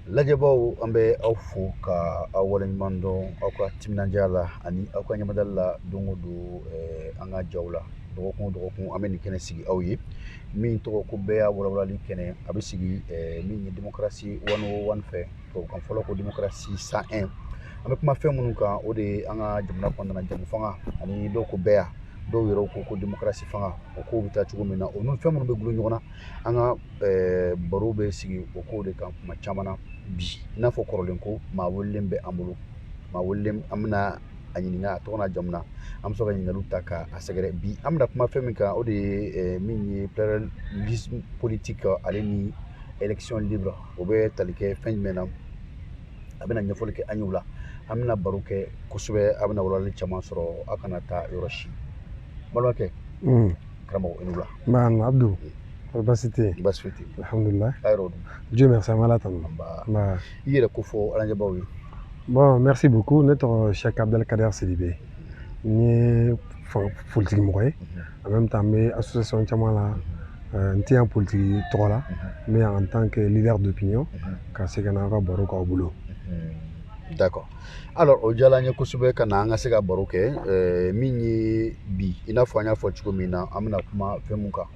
lajɛbaaw an bɛ aw fo ka aw waleɲuman dɔn aw ka timinandiya la ani aw ka ɲamadali la don o don eh, an ka jaw la dɔgɔkun o dɔgɔkun an bɛ nin kɛnɛ sigi aw ye min tɔgɔ ko bɛɛya walawalali kɛnɛ a bɛ sigi eh, min ye demokarasi wani o wani fɛ tubabukan fɔlaw ko demokarasi cent un an bɛ kuma fɛn minnu kan o de ye an ka jamana kɔnɔna na jɛmufanga ani dɔw ko bɛɛya dɔw yɛrɛw ko ko demokarasi fanga o kow bɛ taa cogo min na o ni fɛn minnu bɛ gulo ɲɔgɔn na an ka eh, baro bɛ sigi o kow de kan kuma caman na bi i n'a fɔ kɔrɔlen ko maa welelen bɛ an bolo maa welelen an bɛna a ɲininka a tɔgɔ n'a jamu na an bɛ sɔrɔ ka ɲininkaliw ta ka a sɛgɛrɛ bi an bɛna kuma fɛn min kan o de ye eh, min ye pluralisme politique ale ni élection libre o bɛ tali kɛ fɛn jumɛn na a bɛna ɲɛfɔli kɛ an ye o la an bɛna baro kɛ kosɛbɛ a bɛna walawalali caman sɔrɔ a kana taa yɔrɔ si balimakɛ karamɔgɔ i ni wula nba abdu kɔri basi tɛ yen basi foyi tɛ yen alhamdulilayi a yɛrɛw dun dieu merci an bɛ ala tanu anba nba i yɛrɛ ko fɔ an lajɛbaw ye bon merci beaucoup ne tɔgɔ sɛk abdalkader sidibe n ye fan- politiki mɔgɔ ye en même temps n bɛ association caman la Euh, n tɛ yan politiki tɔgɔ la mais en tant que leader d'opinion ka se ka na aw ka baro k'aw bolo d'accord alors o diyara an ye kosɛbɛ ka na an ka se ka baro kɛ eh, min ye bi i n'a fɔ an y'a fɔ cogo min na an bɛna kuma fɛn mun kan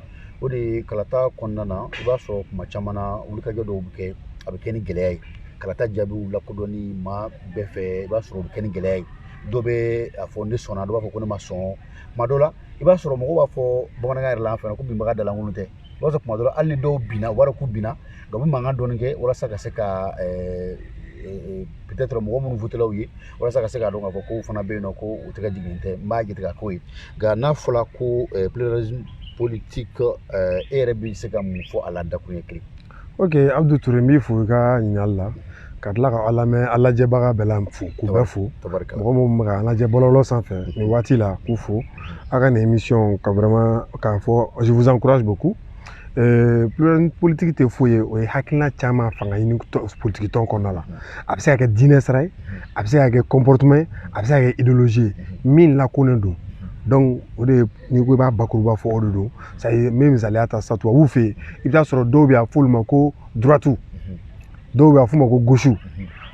o de ye kalata kɔnɔna na i b'a sɔrɔ kuma caman na wulikajɔ dɔw bɛ kɛ a bɛ kɛ ni gɛlɛya ye kalata jaabiw lakodɔnni maa bɛɛ fɛ i b'a sɔrɔ o bɛ kɛ ni gɛlɛya ye dɔ bɛ a fɔ ne sɔnna dɔ b'a fɔ ko ne ma sɔn kuma dɔ la i b'a sɔrɔ mɔgɔw b'a fɔ bamanankan yɛrɛ la an fɛ yan ko binbaga dalankolon tɛ i b'a sɔrɔ kuma dɔ la hali ni dɔw binna u b'a dɔn k'u binna nka u bɛ mankan dɔɔni kɛ walasa ka se ka peut-être mɔgɔ minnu wotela u ye walasa ka se k'a dɔn k'a fɔ ko u fana bɛ yen nɔ ko u tɛgɛ jiginnen tɛ n b'a jate ka k'o ye nka n'a fɔra ko pluralisme politique e yɛrɛ bɛ se ka mun fɔ a la dakuruɲɛ kelen ok abudu ture n b'i fo i ka ɲininkali la ka tila ka an lamɛn an lajɛbaga bɛɛ la fo k'u bɛɛ fo mɔgɔ minnu bɛ ka lajɛ bɔlɔlɔ sanfɛ nin waati la k'u fo a ka nin émission ka vraiment k'a fɔ je vous encourage beaucoup euh, pluralisme politique tɛ foyi ye o ye hakilina caman fanga ɲini politiki tɔn kɔnɔna la a bɛ se ka kɛ diinɛ sira ye a bɛ se ka kɛ comportement ye a bɛ se ka kɛ idéologie ye min lakonen don donc o de ye n'i ko i b'a bakuruba fɔ o de don ça y est n bɛ misaliya ta sa tubabuw fɛ yen i bɛ t'a sɔrɔ dɔw bɛ yen a f'olu ma ko droite dɔw bɛ a f'u ma ko gauche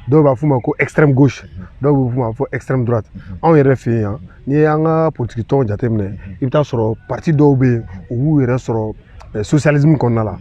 dɔw b'a f'u ma ko extrême gauche dɔw bɛ f'u ma ko extrême droite anw yɛrɛ fɛ yen yan n'i y'an ka politiki tɔnw jateminɛ i bɛ t'a sɔrɔ parti dɔw bɛ yen u b'u yɛrɛ sɔrɔ socialisme kɔnɔna la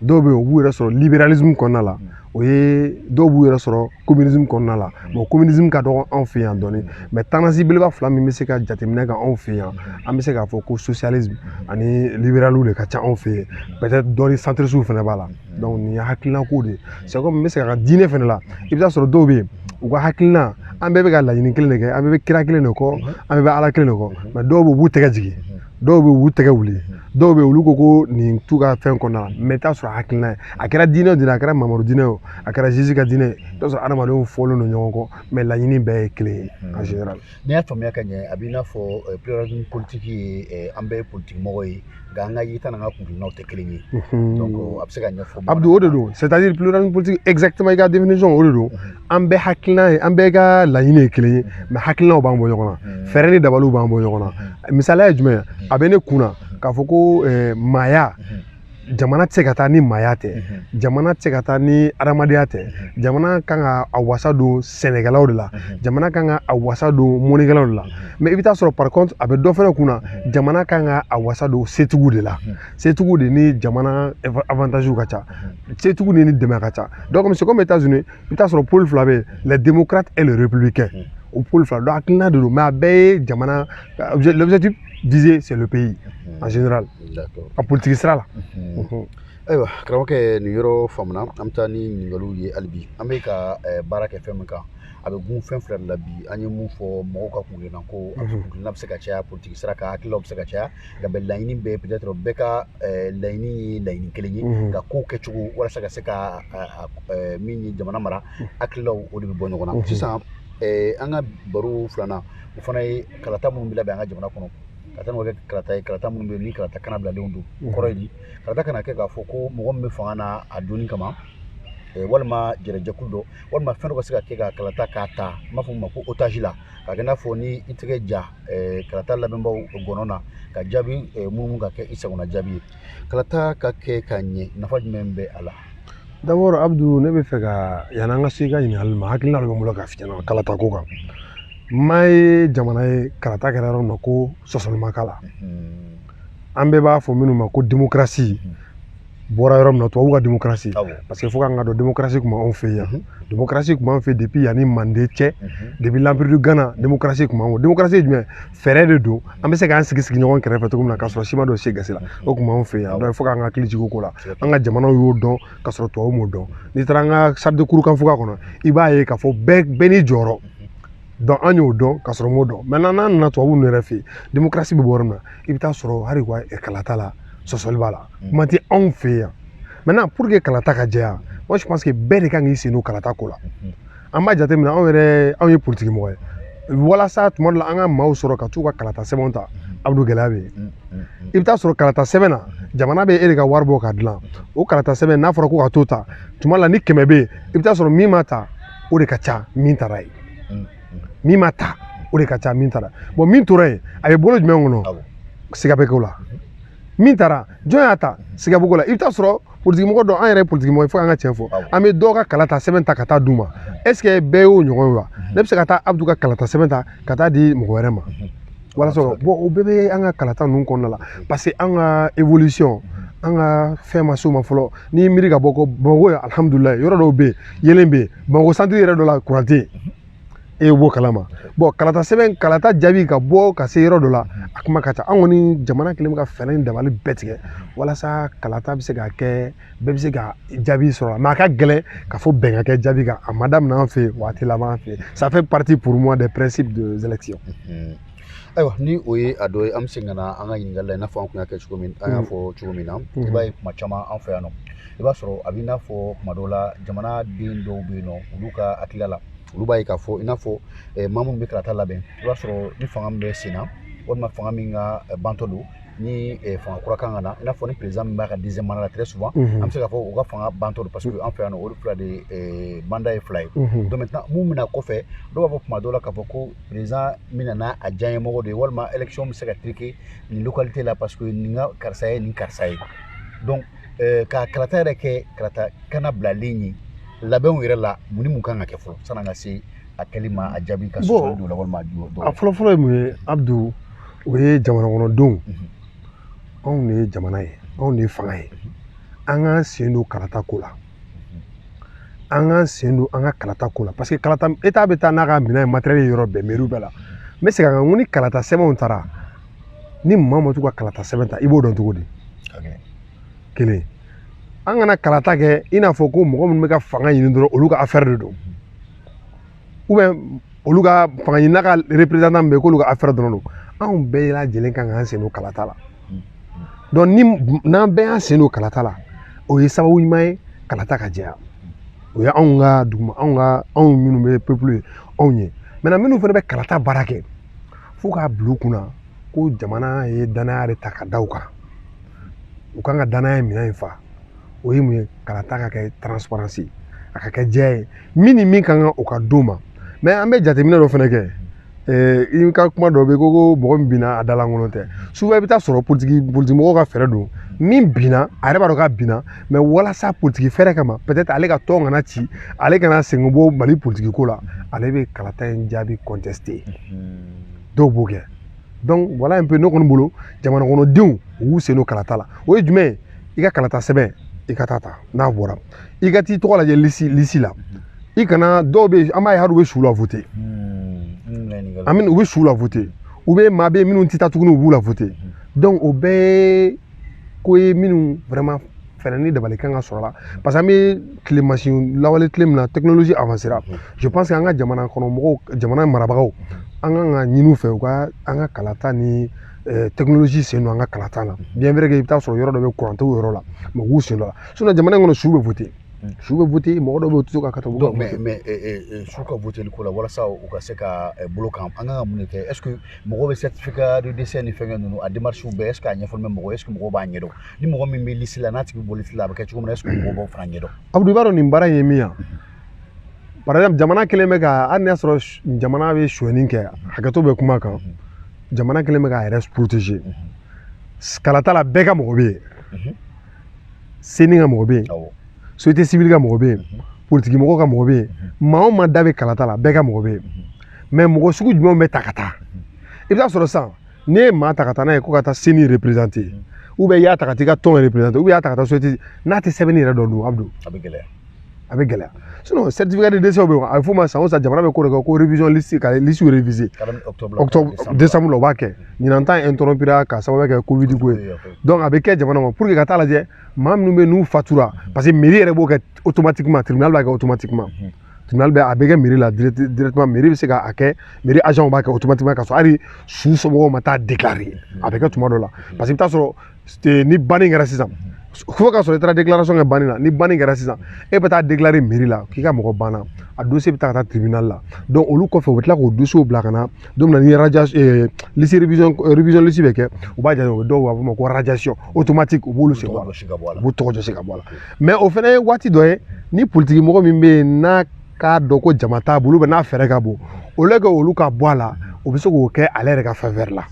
dɔw bɛ yen u b'u yɛrɛ sɔrɔ libéralisme kɔnɔna la o ye dɔw b'u yɛrɛ sɔrɔ communisme kɔnɔna la bon communisme ka dɔgɔ anw fɛ yan dɔɔni mais tendance belebeleba fila min bɛ se ka jateminɛ kɛ anw fɛ yan an bɛ se k'a fɔ ko socialisme ani libéraliw de ka ca anw fɛ yen peut-être dɔɔni centrisiw fana b'a la donc nin ye hakilinako de ye c'est comme n bɛ se ka ka diinɛ fana la i bɛ taa sɔrɔ dɔw bɛ yen u ka hakilina an bɛɛ bɛ ka laɲini kelen de kɛ an bɛɛ bɛ kira kelen de kɔ an bɛɛ bɛ ala kelen de kɔ mais dɔw bɛ yen u b'u tɛgɛ jigin dɔw bɛ u tɛgɛ wuli dɔw bɛ olu ko ko nin t'u ka fɛn kɔnɔna la mais i t'a sɔrɔ hakilina ye a kɛra diinɛ o diinɛ a kɛra mamadu diinɛ o a kɛra jésus ka diinɛ ye i t'a sɔrɔ adamadenw fɔlen don ɲɔgɔn kɔ mais laɲini bɛɛ ye kelen ye en général n'i y'a faamuya ka ɲɛ a b'i n'a fɔ pluralisme politique ye an bɛɛ ye politique mɔgɔ ye nka an ka yeta n'an ka kuntilennaw tɛ kelen ye donc a bɛ se ka ɲɛfɔ abdu o de don c'est à dire pluralisme politique exactement i ka définition o de don an bɛɛ hakilina ye an bɛɛ ka laɲini ye kelen ye mais hakilinaw b'an bɔ ɲɔgɔn na fɛɛrɛ ni dabaliw b'an bɔ ɲɔgɔn na misaliya ye jumɛn a bɛ ne kunna k'a fɔ ko maaya jamana tɛ se ka taa ni maaya tɛ jamana tɛ se ka taa ni adamadenya tɛ jamana kan ka a wasa don sɛnɛkɛlaw de la jamana kan ka a wasa don mɔnikɛlaw de la mais i bɛ taa sɔrɔ par contre a bɛ dɔ fana kunna jamana kan ka a wasa don setigiw de la setigiw de ni jamana avantage ka ca setigiw ni dɛmɛ ka ca donc c'est comme états unis i bɛ t'a sɔrɔ pôle fila bɛ yen les démocrates et les républicains o pôle fila donc hakilina de don mais a bɛɛ ye jamana l'objectif visé c'est le pays en général a politiki sira la ayiwa karamɔgɔkɛ nin yɔrɔ faamuna an bɛ taa ni ɲininkaliw ye hali bi an bɛ ka baara kɛ fɛn min kan a bɛ gun fɛn fila de la bi an ye mun fɔ mɔgɔw ka kuntilenna ko a kuntilenna bɛ se ka caya politiki sira kan hakililaw bɛ se ka caya nka bɛɛ laɲini bɛɛ peut être bɛɛ ka eh, laɲini ye laɲini kelen ye mhm. nka kow kɛcogo walasa ka se ka eh, min ye jamana mara mhm. hakililaw o de bɛ bɔ ɲɔgɔn na mhm. sisan eh, an ka baro filanan o fana ye kalata minnu bɛ labɛn an ka jamana kɔnɔ kalata n'o kɛ kalata ye kalata minnu bɛ yen ni kalata kannabilalenw don kɔrɔ ye di kalata kana kɛ k'a fɔ ko mɔgɔ min bɛ fanga na a donni kama Eh, walima jɛrɛjɛkulu dɔ walima fɛn dɔ ka se ka kɛ ka kalata k'a ta n b'a fɔ min ma ko otage la k'a kɛ i n'a fɔ ni i tɛgɛ ja eh, kalata labɛnbaaw ngɔnɔ na ka jaabi eh, munumunu ka kɛ i sagona jaabi ye kalata ka kɛ ka ɲɛ nafa jumɛn bɛ a la d'abord abdu ne bɛ fɛ ka yanni an ka se i ka ɲininkali ma hakilina dɔ bɛ n bolo k'a f'i ɲɛna kalata ko kan n ma ye jamana ye kalata kɛra yɔrɔ min na ko sɔsɔli ma k'a la an bɛɛ b'a fɔ minnu ma ko demokarasi bɔra yɔrɔ min na tubabuw ka demokarasi parce que fo k'an k'a dɔn demokarasi tun b'anw fɛ yan demokarasi tun b'an fɛ depuis yanni manden cɛ depuis l'empire du ghana demokarasi tun b'an fɛ demokarasi ye jumɛn fɛɛrɛ de don an bɛ se k'an sigi sigi ɲɔgɔn kɛrɛfɛ cogo min na k'a sɔrɔ si ma don si gasi la o tun b'anw fɛ yan donc fo k'an ka hakili jigin o ko la an ka jamanaw y'o dɔn k'a sɔrɔ tubabuw m'o dɔn n'i taara an ka charte de kurukanfuga kɔnɔ i b'a ye k'a fɔ bɛɛ bɛɛ n'i jɔyɔrɔ donc an y'o dɔn ka sɔrɔ m'o dɔn maintenant n'an nana tubabuw ninnu yɛrɛ fɛ yen demokarasi bɛ bɔ yɔrɔ min na i bɛ taa sɔrɔ hali wa kalata la sɔsɔli b'a la mm. kuma tɛ anw fɛ yan maintenant pour que kalata ka jɛya moi je pense que bɛɛ de kan k'i sen don kalata ko la mm-hmm. an b'a jateminɛ anw yɛrɛ anw ye politiki mɔgɔ ye walasa tuma dɔ la an ka maaw sɔrɔ ka t'u ka kalata sɛbɛnw ta mm-hmm. abudu gɛlɛya bɛ yen mm-hmm. i bɛ taa sɔrɔ kalata sɛbɛn na jamana bɛ e de ka wari bɔ ka dilan o kalata sɛbɛn n'a fɔra ko ka t'o ta tuma dɔ la ni kɛmɛ bɛ yen i bɛ taa sɔrɔ min ma ta o de ka ca min tara ye min ma ta o de ka ca min tara bon min tora yen a bɛ bolo jumɛn kɔnɔ siga bɛ kɛ o la min tara jɔn y'a ta siga bɛ k'o la i bɛ taa sɔrɔ politikimɔgɔ dɔ an yɛrɛ ye politikimɔgɔ ye fo an ka tiɲɛ fɔ an bɛ dɔw ka kalata sɛbɛn ta ka taa d'u ma est-ce que bɛɛ y'o ɲɔgɔn ye wa ne bɛ se ka taa abudu ka kalata sɛbɛn ta ka taa di mɔgɔ wɛrɛ ma walasa bon o bɛɛ bɛ an ka kalata ninnu kɔnɔna la parce que an ka évolution an ka fɛn ma s'o ma fɔlɔ n'i ye miiri ka bɔ ko bamakɔ ye alihamudulila yɔrɔ dɔw bɛ yen yeelen bɛ yen bamakɔ santiri yɛrɛ dɔ la kuran tɛ yen e yɛrɛ b'o kalama bon kalata sɛbɛn kalata jaabi ka bɔ ka se yɔrɔ dɔ la a kuma ka ca an kɔni jamana kelen bɛ ka fɛɛrɛ ni dabali bɛɛ tigɛ walasa kalata bɛ se ka kɛ bɛɛ bɛ se ka jaabi sɔrɔ mais a ka gɛlɛn ka fɔ bɛn ka kɛ jaabi kan a ma daminɛ an fɛ yen waati laban an fɛ yen ça fait partie pour moi des principes des élections ayiwa ni o ye a dɔ ye an bɛ segin ka na an ka ɲininkali la i n'a fɔ an tun y'a kɛ cogo min an y'a fɔ cogo min na i b'a ye kuma caman an fɛ yan nɔ i b'a sɔrɔ a bɛ i n'a fɔ kuma dɔw la jamana den dɔw bɛ yen nɔ olu ka hakilila la olu b'a ye k'a fɔ i n'a fɔ maa minnu bɛ kalata labɛn i b'a sɔrɔ ni fanga min bɛ sen na walima fanga min ka bantɔ don ni eh, fanga kura kan ka na i n'a fɔ ni président min b'a ka deuxième mandat la très souvent mhm. an bɛ se k'a fɔ u ka fanga bantɔ don parce que an fɛ yan nɔ olu fila de eh, mandat ye fila ye mhm. donc maintenant mun bɛna kɔfɛ dɔw b'a fɔ tuma dɔw la k'a fɔ ko président min nana a diyaɲɛmɔgɔ de ye walima élection bɛ se ka truquer nin localité la parce que nin ka karisa ye nin karisa ye donc eh, ka kalata yɛrɛ kɛ kalata kana bilalen ye labɛnw yɛrɛ la mun ni mun kan ka kɛ fɔlɔ san'an ka se a kɛli ma a jaabi ka sɔrɔ don la walima a ju dɔw a fɔlɔ-fɔlɔ ye mun ye Abdu o ye jamana kɔnɔdenw anw de ye jamana ye anw de ye fanga ye an k'an sen don kalata ko la an k'an sen don an ka kalata ko la parce que kalata État bɛ taa n'a ka minɛn ye matériel yɔrɔ bɛɛ mɛriw bɛɛ la n bɛ segin a kan n ko ni kalata sɛbɛnw taara ni maa ma t'u ka kalata sɛbɛn ta i b'o dɔn cogo di kelen an kana kalata kɛ i n'a fɔ ko mɔgɔ minnu bɛ ka fanga ɲini dɔrɔn olu ka affaire de don olu ka fanga ɲinina ka représentant min bɛ yen k'olu ka affaire dɔrɔn don anw bɛɛ lajɛlen kan k'an sen don kalata la ni n'an bɛɛ y'an sen don kalata la o ye sababu ɲuman ye kalata ka jɛya o ye anw ka duguma anw ka anw minnu bɛ peuple ye anw ye maintenant minnu fana bɛ kalata baara kɛ fo k'a bila u kunna ko jamana ye danaya de ta ka da u kan u kan ka danaya minɛn in fa o ye mun ye kalata ka kɛ transparence a ka kɛ jɛya ye min ni min ka kan o ka d'o ma mais an bɛ jateminɛ dɔ fana kɛ i ka kuma dɔ bɛ yen ko ko mɔgɔ min binna a da lankolon tɛ souvent i bɛ taa sɔrɔ politigi mɔgɔw ka fɛɛrɛ don min binna a yɛrɛ b'a dɔn k'a binna mais walasa politigi fɛɛrɛ kama peut être ale ka tɔn kana ci ale kana sen bɔ mali politigi ko la ale bɛ kalata in jaabi contester dɔw b'o kɛ donc voilà un peu ne kɔni bolo jamana kɔnɔdenw u y'u sen don kalata la o ye jumɛn ye i ka kalata sɛbɛn i ka taa ta n'a bɔra i ka t'i tɔgɔ lajɛ lisi la i kana dɔw bɛ yen an b'a ye hali u bɛ su la voter u bɛ su la voter u bɛ maa bɛ yen minnu tɛ taa tuguni u b'u la voter donc o bɛɛ ye ko ye minnu vraiment fɛɛrɛ ni dabali kan ka sɔrɔ a la parce que an bɛ tile masin lawale tile min na technologie avancera je pense que an ka jamana kɔnɔ mɔgɔw jamana marabagaw an kan ka ɲini u fɛ u ka an ka kalata ni eh, technologie sen don an ka kalata la bien vrai que i bɛ taa sɔrɔ yɔrɔ dɔ bɛ courant t'o yɔrɔ la mais u k'u sen don a la sinon jamana in kɔnɔ su bɛ voter su bɛ voter mɔgɔ dɔw bɛ yen u tɛ se ka kata u bɛ mais mais eh, eh, eh, su ka voteli ko la walasa u ka se ka eh, bolo kan an kan ka mun de kɛ est ce que mɔgɔw bɛ certificat de décès ni fɛnkɛ ninnu a démarche bɛɛ est ce que a ɲɛfɔlen bɛ mɔgɔ est ce que mɔgɔw b'a ɲɛdɔn ni mɔgɔ min bɛ liste la n'a tigi bɛ bɔ liste la a bɛ kɛ cogo min na est ce que mɔgɔw b'o fana ɲɛdɔn abudu i b'a dɔn nin baara in ye min ye par exemple jamana kelen bɛ ka hali n'a sɔrɔ s- jamana bɛ sonyani kɛ hakɛto bɛ kuma kan jamana kelen bɛ k'a yɛrɛ protéger kalata la bɛɛ ka mɔgɔ bɛ yen CENI ka mɔgɔ bɛ yen société civile ka mɔgɔ bɛ yen politigi mɔgɔ ka mɔgɔ bɛ yen maa o maa da bɛ kalata la bɛɛ ka mɔgɔ bɛ yen mais mɔgɔ sugu jumɛnw bɛ ta ka taa i bɛ taa sɔrɔ sisan ne ye maa ta ka taa n'a ye ko ka taa CENI représenter ou bien i y'a ta ka taa i ka tɔn représenter ou bien i y'a ta ka taa société n'a tɛ sɛbɛnni yɛrɛ dɔn a bɛ gɛlɛya a bɛ gɛlɛya sinon certificat de décès bɛ yen a bɛ f'o ma san o san jamana bɛ ko de kɛ ko révision liste ka liste réviser octobre décembre o b'a kɛ ɲinan ta interrompira k'a sababu kɛ covid ko ye donc a bɛ kɛ jamana ma pour que ka taa lajɛ maa minnu bɛ yen n'u fatura parce que mairie yɛrɛ b'o kɛ automatiquement tribunal b'a kɛ automatiquement tribunal bɛ a bɛ kɛ mairie la directement mairie bɛ se ka a kɛ mairie agent b'a kɛ automatiquement ka sɔrɔ hali su somɔgɔw ma taa déclarer a bɛ kɛ tuma dɔ la parce que i bɛ taa sɔrɔ ni banni kɛra sisan fo ka sɔrɔ i taara déclaration kɛ banni na ni banni kɛra sisan e bɛ taa déclarer mairie la k'i ka mɔgɔ banna a dossier bɛ taa ka taa tribunal la donc olu kɔfɛ u bɛ tila k'o dossier bila ka na don min na ni liste révision liste bɛ kɛ u b'a jira u bɛ dɔw b'a fɔ ma ko radiation automatique u b'olu sen bɔ a la u b'u tɔgɔ jɔsi ka bɔ a la mais o fana ye waati dɔ ye ni politigi mɔgɔ min bɛ yen n'a k'a dɔn ko jama t'a bolo n'a fɛɛrɛ ka bon au lieu que olu ka bɔ a la o bɛ se k'o kɛ ale yɛrɛ ka faveur la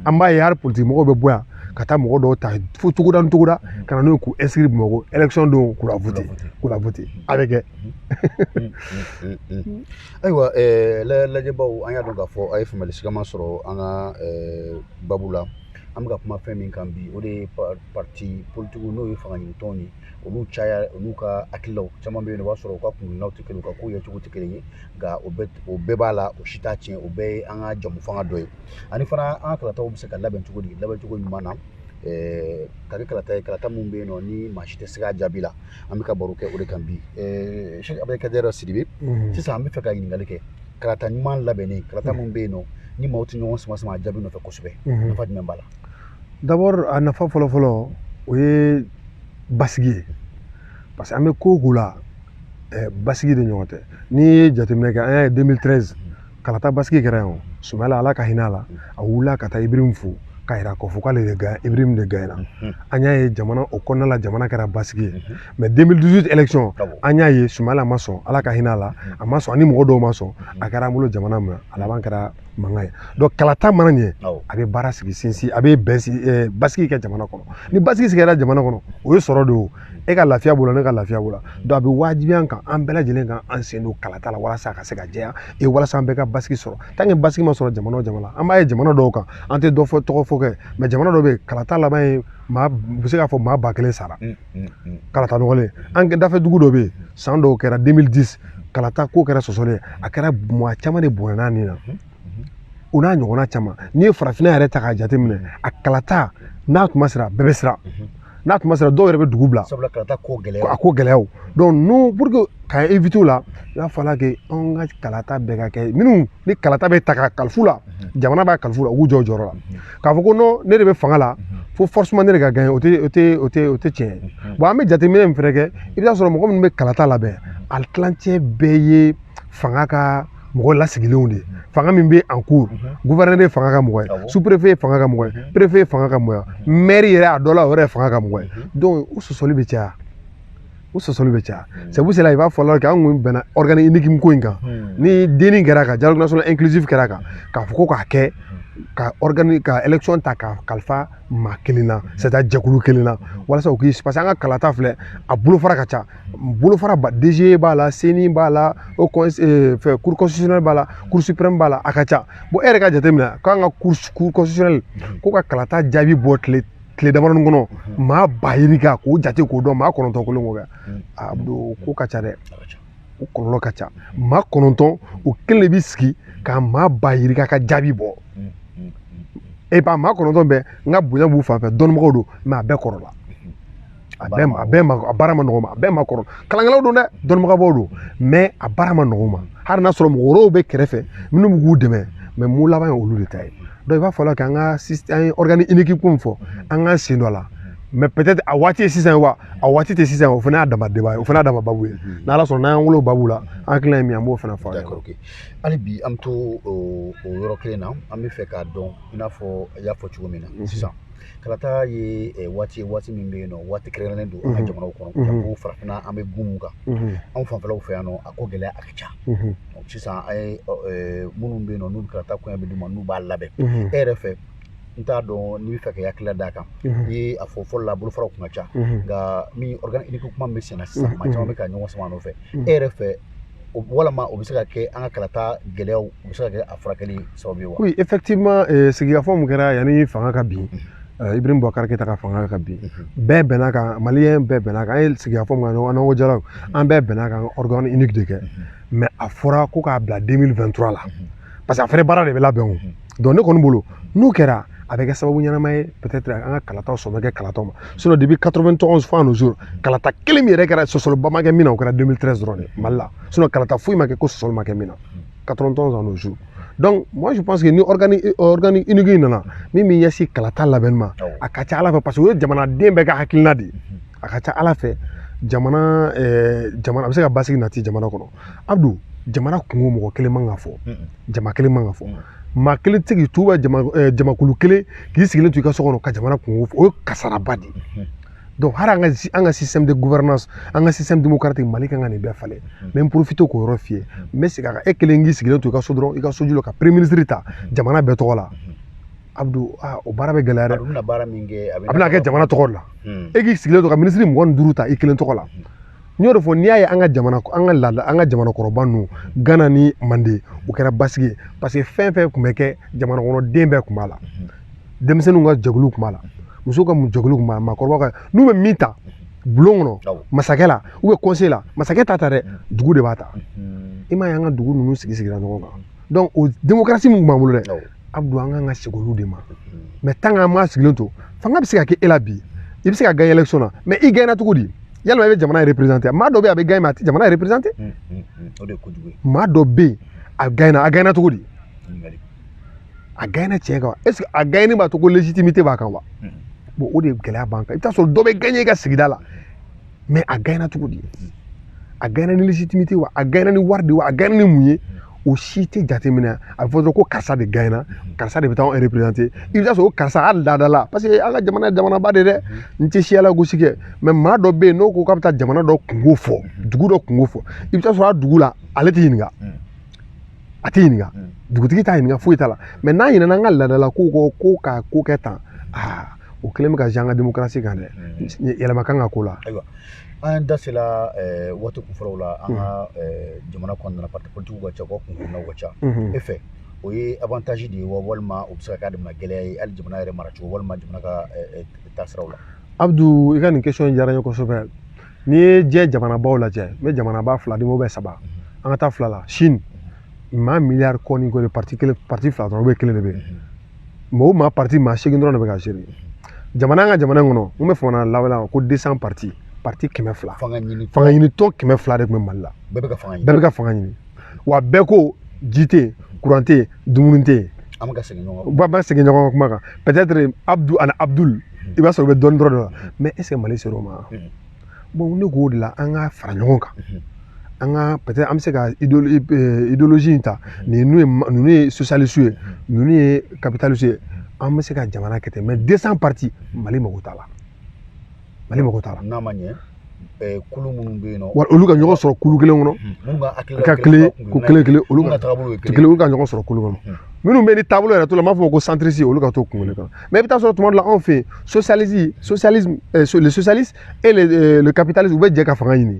an b'a ye hali politikimɔgɔw bɛ bɔ yan ka taa mɔgɔ dɔw ta fo togoda ni togoda ka na n'u ye k'u inscrire bamakɔ élection don k'u la voter k'u la voter a bɛ kɛ ayiwa lajɛbaw an y'a dɔn k'a fɔ a ye faamuyali sigama sɔrɔ an ka babu la an bɛ ka kuma fɛn min kan bi o de ye pariti politigiw n'o ye fanga ɲini tɔnw ye olu caya olu ka hakililaw caman bɛ yen o b'a sɔrɔ u ka kuntilennaw tɛ kelen u ka kow yecogo tɛ kelen ye nka o bɛɛ o bɛɛ b'a la o si t'a tiɲɛ o bɛɛ ye an ka jɛmufanga dɔ ye ani fana an ka kalataw bɛ se ka labɛn cogo di labɛn cogo ɲuman na ɛɛ ka kɛ kalata ye kalata min bɛ yen nɔ ni maa si tɛ siga a jaabi la an bɛ ka baro kɛ o de kan bi ɛɛ sɛki abudulayi sidibe sisan an bɛ fɛ ka ɲininkali kɛ kalata ɲuman labɛnnen kalata min bɛ yen nɔ ni maaw tɛ ɲɔgɔn sama sama a jaabi nɔfɛ kosɛbɛ nafa jumɛn b'a la D'abord a nafa fɔlɔ fɔlɔ o ye basigi ye parce que an bɛ ko o ko la eh, basigi de ɲɔgɔn tɛ n'i ye jateminɛ kɛ an y'a ye 2013 kalata basigi kɛra yan o sumayila ala ka hinɛ a la a wulila ka taa ibrahim fo k'a yira k'a fɔ k'ale de gaɲa ibrahim de gaɲana mhm. an y'a ye jamana o kɔnɔna la jamana kɛra basigi ye mhm. mais 2018 élection an y'a ye sumayila ma sɔn ala ka hinɛ a la mhm. a ma sɔn ani mɔgɔ dɔw ma sɔn a kɛra an bolo jamana ma a laban kɛra mankan ye donc kalata mana ɲɛ a bɛ baara sigi sinsin a bɛ bɛn basigi kɛ jamana kɔnɔ ni basigi sigira jamana kɔnɔ o ye sɔrɔ de ye e ka lafiya b'o la ne ka lafiya b'o la donc a bɛ wajibiya an kan an bɛɛ lajɛlen ka an sen don kalata la walasa a ka se ka jɛya e walasa an bɛɛ ka basigi sɔrɔ tant que basigi ma sɔrɔ jamana o jamana an b'a ye jamana dɔw kan an tɛ dɔ fɔ tɔgɔ fɔ kɛ mais jamana dɔw bɛ yen kalata laban ye maa u bɛ se k'a fɔ maa ba kelen sara kalata nɔgɔlen an ka dafɛ dugu dɔ bɛ yen san dɔw kɛra 2010 kalata ko kɛra sɔsɔlen a kɛra maa caman de bɔnɛna nin na o n'a ɲɔgɔnna caman n'i ye farafinna yɛrɛ ta k'a jateminɛ a kalata n'a tuma sera bɛɛ bɛ siran n'a tuma sera dɔw yɛrɛ bɛ dugu bila sabula kalata ko gɛlɛya a ko gɛlɛyaw donc pour que ka éviter la i b'a fɔ la kɛ anw ka kalata bɛɛ ka kɛ minnu ni kalata bɛ ta ka kalifa u la jamana b'a kalifa u la u k'u jɔ u jɔyɔrɔ la k'a fɔ ko non ne de bɛ fanga la fo forcément ne de ka gagner o tɛ o tɛ o tɛ o tɛ tiɲɛ ye bon an bɛ jateminɛ min fɛnɛ kɛ i bɛ taa sɔrɔ mɔgɔ minnu bɛ kalata labɛn a tilancɛ bɛɛ ye fanga ka mɔgɔ lasigilenw de ye fanga min bɛ en cours gouverneur ye fanga ka mɔgɔ ye sous préfet ye fanga ka mɔgɔ ye préfet ye fanga ka mɔgɔ ye maire yɛrɛ a dɔ la o yɛrɛ ye fanga ka mɔgɔ ye donc o sɔsɔli bɛ caya o sɔsɔli bɛ caya c'est pour cela i b'a fɔ la kɛ an kun bɛnna organe unique ko in kan ni denni kɛra kan dialogue national inclusif kɛra kan k'a fɔ ko k'a kɛ ka organe ka élection ta ka kalifa maa kelen na c'est à dire jɛkulu kelen na walasa u k'i parce que an ka kalata filɛ a bolofara ka ca bolofara ba DGE b'a la CENI b'a la o fɛ cour constitutionnelle b'a la cour suprême b'a la a ka ca bon e yɛrɛ k'a jateminɛ k'an ka cour constitutionnelle k'o ka kalata jaabi bɔ tile tile damadɔni kɔnɔ maa ba yirika k'o jate k'o dɔn maa kɔnɔntɔn kelen k'o kɛ a don ko ka ca dɛ o kɔlɔlɔ ka ca maa kɔnɔntɔn o kelen de bi sigi ka maa ba yirika ka jaabi bɔ e ba maa kɔnɔntɔn bɛɛ n ka bonya b'u fan fɛ dɔnnibagaw don mais a bɛɛ kɔrɔla a bɛɛ ma a bɛɛ ma a baara ma nɔgɔ ma a bɛɛ maakɔrɔ kalankɛlaw don dɛ dɔnnibaw don mais a baara ma nɔgɔ ma hali n'a sɔrɔ mɔgɔ wɛrɛw bɛ kɛrɛfɛ minnu bɛ k'u dɛmɛ mais mun laban ye olu de ta ye i b'a fɔ la k'an ka an ye organe unique ko min fɔ an k'an sen don a la mais peut-être a waati ye sisan wa a waati tɛ sisan o fana y'a dama débat ye o fana y'a dama babu ye n'ala sɔnna n'an wolo babu la an hakilina ye min an b'o fana fɔ hali bi an bɛ to o yɔrɔ kelen na an bɛ fɛ k'a dɔn i n'a fɔ i y'a fɔ cogo min na sisan kalata ye eh, waati waati min bɛ yen nɔ waati kɛrɛnkɛrɛnnen don an ka jamanaw kɔnɔ mhm. ko farafinna an bɛ gun kan mhm. anw fanfɛlaw fɛ yan nɔ a ko gɛlɛya a ka ca mhm. sisan an ye eh, minnu bɛ yen nɔ n'u kalata koɲɛ bɛ d'u ma n'u b'a labɛn e yɛrɛ fɛ n t'a dɔn n'i bɛ fɛ k'i hakilila d'a kan i ye a fɔ fɔlɔ la bolofaraw tun ka ca nka nin organe unique kuma min bɛ senna sisan maa caman bɛ ka ɲɔgɔn sama a nɔfɛ e yɛrɛ fɛ o walama o bɛ se ka kɛ an ka kalata gɛlɛyaw o bɛ se ka kɛ a furakɛli sababu ye wa oui effectivement eh, sigikafɔ mun kɛra yanni fanga ka bin eh, Ibrahim Boubacar Keita ka fanga ka bin bɛɛ bɛnna kan maliyɛn bɛɛ bɛnna kan an ye sigikafɔ mun kɛ n'an ko dialogue an bɛɛ bɛnna kan organe unique de kɛ mais a fɔra ko k'a bila 2023 la parce que a fɛnɛ baara de bɛ labɛn o donc ne kɔni bolo n'o kɛra a bɛ kɛ sababu ɲɛnama ye peut-être an ka kalataw sɔn bɛ kɛ kalataw ma sinon depuis 91 fo à nos jours kalata kelen min yɛrɛ kɛra sɔsɔliba ma kɛ min na o kɛra 2013 dɔrɔn de mali la sinon kalata foyi ma kɛ ko sɔsɔli ma kɛ min na 91 fo à nos jours donc moi je pense que ni organe euh, organe unique in nana min bɛ ɲɛsin kalata labɛnni ma a ka ca ala fɛ parce que o ye jamanaden bɛɛ ka hakilina de ye a ka ca ala fɛ jamana jamana a bɛ se ka basigi nati jamana kɔnɔ abdu jamana kunko mɔgɔ kelen man ka fɔ jama kelen man ka fɔ maa kelen tɛ k'i to ka jamakulu kelen k'i sigilen to i ka so kɔnɔ ka jamana kunko fɔ o ye kasaraba de ye hali an ka an ka système de gouvernance an ka système démocratique mali kan ka nin bɛɛ falen n bɛ n profiter k'o yɔrɔ f'i ye n bɛ segin a kan e kelen k'i sigilen to i ka so dɔrɔn i ka soju la ka premier ministre ta jamana bɛɛ tɔgɔ la abdu aa o baara bɛ gɛlɛya dɛ a bɛna baara min kɛ a bɛna kɛ jamana tɔgɔ la e k'i sigilen to ka minisiri mugan ni duuru ta i kelen tɔgɔ la n y'o de fɔ n'i y'a ye an ka jamana an ka laada an ka jamanakɔrɔba ninnu gana ni manden u kɛra basigi ye parce que fɛn fɛn kun bɛ kɛ jamana kɔnɔ den bɛɛ kun b'a la denmisɛnninw ka jɛkulu kun b'a la musow ka jɛkulu kun b'a la maakɔrɔbaw ka n'u bɛ min ta bulon kɔnɔ masakɛ la ou bien conseil la masakɛ t'a ta dɛ dugu de b'a ta i m'a ye an ka dugu ninnu sigi sigira ɲɔgɔn kan o démocratie min b'an bolo dɛ abdu an kan ka segin olu de ma mais tant qu'an m'a sigilen to fanga bɛ se ka kɛ e la bi i bɛ se ka gagner élection na mais i gagnena cogo di yalima i bɛ jamana représenter maa dɔ bɛ yen a bɛ gagner mais a tɛ jamana représenter maa dɔ bɛ yen a gagnena a gagnena cogo di a gagnena tiɲɛ kan est-ce que a gagneni b'a to ko légitimité b'a kan wa o de gɛlɛya b'an kan i bɛ t'a sɔrɔ dɔ bɛ gagner i ka sigida la mais a gaɲɛna cogo di a gaɲɛna ni légitimité wa a gaɲɛna ni wari de wa a gaɲɛna ni mun ye o si tɛ jateminɛ a bɛ fɔ dɔrɔn ko karisa de gaɲɛna karisa de bɛ taa anw représenter i bɛ taa sɔrɔ karisa a laada la parce que an ka jamana ye jamanaba de dɛ n tɛ siya lagosi kɛ mais maa dɔ bɛ yen n'o ko k'a bɛ taa jamana dɔ kunko fɔ dugu dɔ kunko fɔ i bɛ taa sɔrɔ a dugu la ale tɛ ɲininka a tɛ ɲininka mm. dugutigi t'a ɲininka foyi t'a la mais n'a ɲinɛna an ka laadalako kɔ ko ka ko kɛ tan aa o kɛlen bɛ ka jan an ka demokarasi kan dɛ mm. yɛlɛma kan ka k'o la ayiwa an da sela eh, waati kunfɔlɔw la an ka mm. eh, jamana kɔnɔna parti politikiw ka ca u ka kunkunnaw ka ca mm-hmm. e fɛ o ye avantage de ye wa walima o bɛ se ka kɛ a dama gɛlɛya ye hali jamana yɛrɛ maracogo walima jamana ka eh, taasiraw la abdu i ka nin question diyara n ye kosɛbɛ n'i ye diɲɛ jamanabaw lajɛ n bɛ jamanaba fila di ou bien saba an ka taa fila la chine maa miliyari kɔ ni kɔni pariti kelen pariti fila dɔrɔn ou bien kelen de bɛ yen mais o maa pariti maa seegin dɔrɔn de bɛ ka gérer jamana an ka jamana kɔnɔ n bɛ fanga lawaleya ko deux cents pariti pariti kɛmɛ fila fangaɲinitɔn kɛmɛ fila de tun bɛ mali la bɛɛ bɛ ka fanga ɲini wa bɛɛ ko ji tɛ yen kuran tɛ yen dumuni tɛ yen an bɛ ka segin ɲɔgɔn an bɛ segin ɲɔgɔn kuma kan peut-être abdu ani abdul i b'a sɔrɔ u bɛ dɔɔnin dɔrɔn de la mais est ce que mali ser'o ma bon ne k'o de la an ka fara ɲɔgɔn kan an ka peut-être an bɛ se ka idéologie in ta ninnu ye ninnu ye socialiste ye ninnu ye capitaliste ye an bɛ se ka jamana kɛ ten mais 200 parti mali mago t'a la mali mago t'a la n'a ma ɲɛ kulu minnu bɛ yen nɔ wa olu ka ɲɔgɔn sɔrɔ kulu kelen kɔnɔ ka kelen ko kelen kelen olu ka taabolo kelen ka ɲɔgɔn sɔrɔ kulu kɔnɔ minnu bɛ ni taabolo yɛrɛ to la n b'a fɔ ko centriste olu ka to kulu kelen kɔnɔ mais i bɛ taa sɔrɔ tuma dɔ la anw fɛ yen socialisme socialiste les socialistes et le capitalisme u bɛ jɛ ka fanga ɲini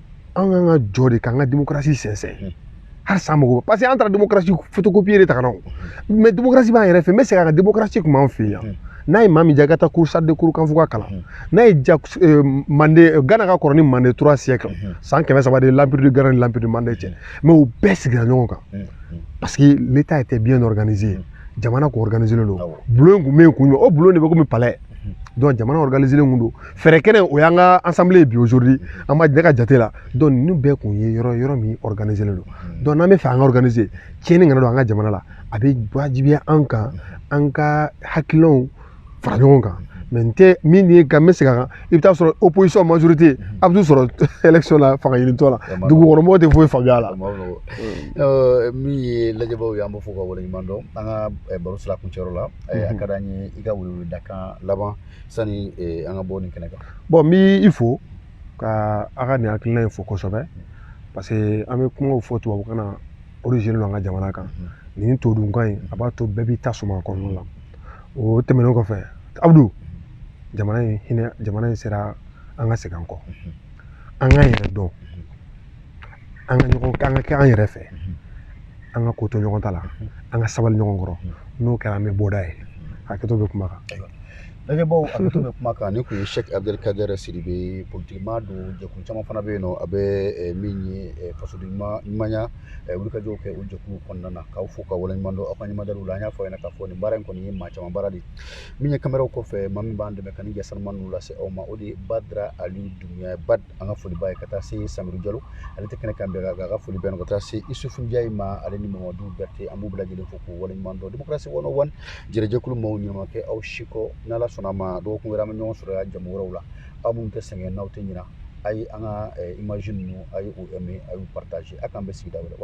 an kan ka jɔ de k'an ka demokarasi sɛnsɛn halisa mɔgɔ parce que an taara demokarasi photocopie de ta ka na o mais demokarasi b'an yɛrɛ fɛ n bɛ segin a kan demokarasi kun b'an fɛ yan n'a ye maa min diya i ka taa kuru charte de kurukanfuga kalan n'a y'i diya mande gana ka kɔrɔ ni mande trois siècles san kɛmɛ saba de ye l'empire de gana ni l'empire de mande cɛ mais u bɛɛ sigira ɲɔgɔn kan parce que l'état était bien organisé jamana kun organisélen don bulon kun bɛ yen kun jumɛn o bulon de bɛ komi palais donc jamana organisélen kun don fɛrɛkɛnɛ o y'an ka assemblée ye bi aujourd'hui an ma ne ka jate la donc ninnu bɛɛ kun ye yɔrɔ yɔrɔ min organisélen don donc n'an bɛ fɛ an ka organiser tiɲɛni kana don an ka jamana la a bɛ wajibiya an kan an ka hakilinaw fara ɲɔgɔn kan mais n tɛ min ye ka n bɛ segin a kan i bɛ taa sɔrɔ opposition majorité a bɛ t'u sɔrɔ élection la fanga ɲinitɔ la dugukɔnɔmɔgɔw tɛ foyi faamuya a la min ye lajɛbaaw ye an b'u fo ka waleɲuman dɔn an ka baro sira kuncɛyɔrɔ la a ka d'an ye i ka weleweledakan laban sani eh, an ka bɔ nin kɛnɛ kan bon n bɛ i fo ka a ka nin hakilina in fo kosɛbɛ mm. parce que an bɛ kumaw fɔ tubabukan na origine don an ka jamana kan mm. nin todunkan in a b'a to bɛɛ b'i ta suma kɔnɔna la o tɛmɛnen kɔfɛ abudu jamana in hinɛ jamana in sera an ka segin an kɔ mm-hmm. an k'an yɛrɛ dɔn mm-hmm. an ka ɲɔgɔn an ka kɛ an yɛrɛ fɛ an ka ko to ɲɔgɔn ta la an ka sabali ɲɔgɔn kɔrɔ n'o kɛra an bɛ bɔda ye hakɛto bɛ kuma kan lajɛbaw hakɛto bɛ kuma kan nin kun ye sɛki abdel kader sidibe politikima don jɛkulu caman fana bɛ yen nɔ a bɛ eh, min ye eh, fasoden ɲumanya eh, wulikajɔw kɛ o jɛkulu kɔnɔna na k'aw fo k'aw waleɲuman dɔn aw ka ɲumadaliw la an y'a fɔ a ɲɛna k'a fɔ nin baara in kɔni ye maa caman baara de ye min ye kameraw kɔfɛ maa min b'an dɛmɛ ka nin ja sanuman ninnu lase aw ma o de ye badara aliyu dunbiya bad an ka foli b'a ye ka taa se samiru jalo ale tɛ kɛnɛ kan bi an ka foli bɛ ka taa se isufu njayi ma ale ni mamadu bɛrɛte an b'u bɛɛ lajɛlen fo k'u waleɲuman dɔn democracy one o one jɛrɛ jɛkulu maaw ɲuman kɛ aw siko n'ala sɔnna a ma dɔgɔkun wɛrɛ an bɛ ɲɔgɔn sɔrɔ yan jɛmu wɛrɛw la aw minnu tɛ sɛgɛn n'aw tɛ ɲina a ye an ka images ninnu a y'u aimer a y'u partager k'an bɛn sigida wɛrɛ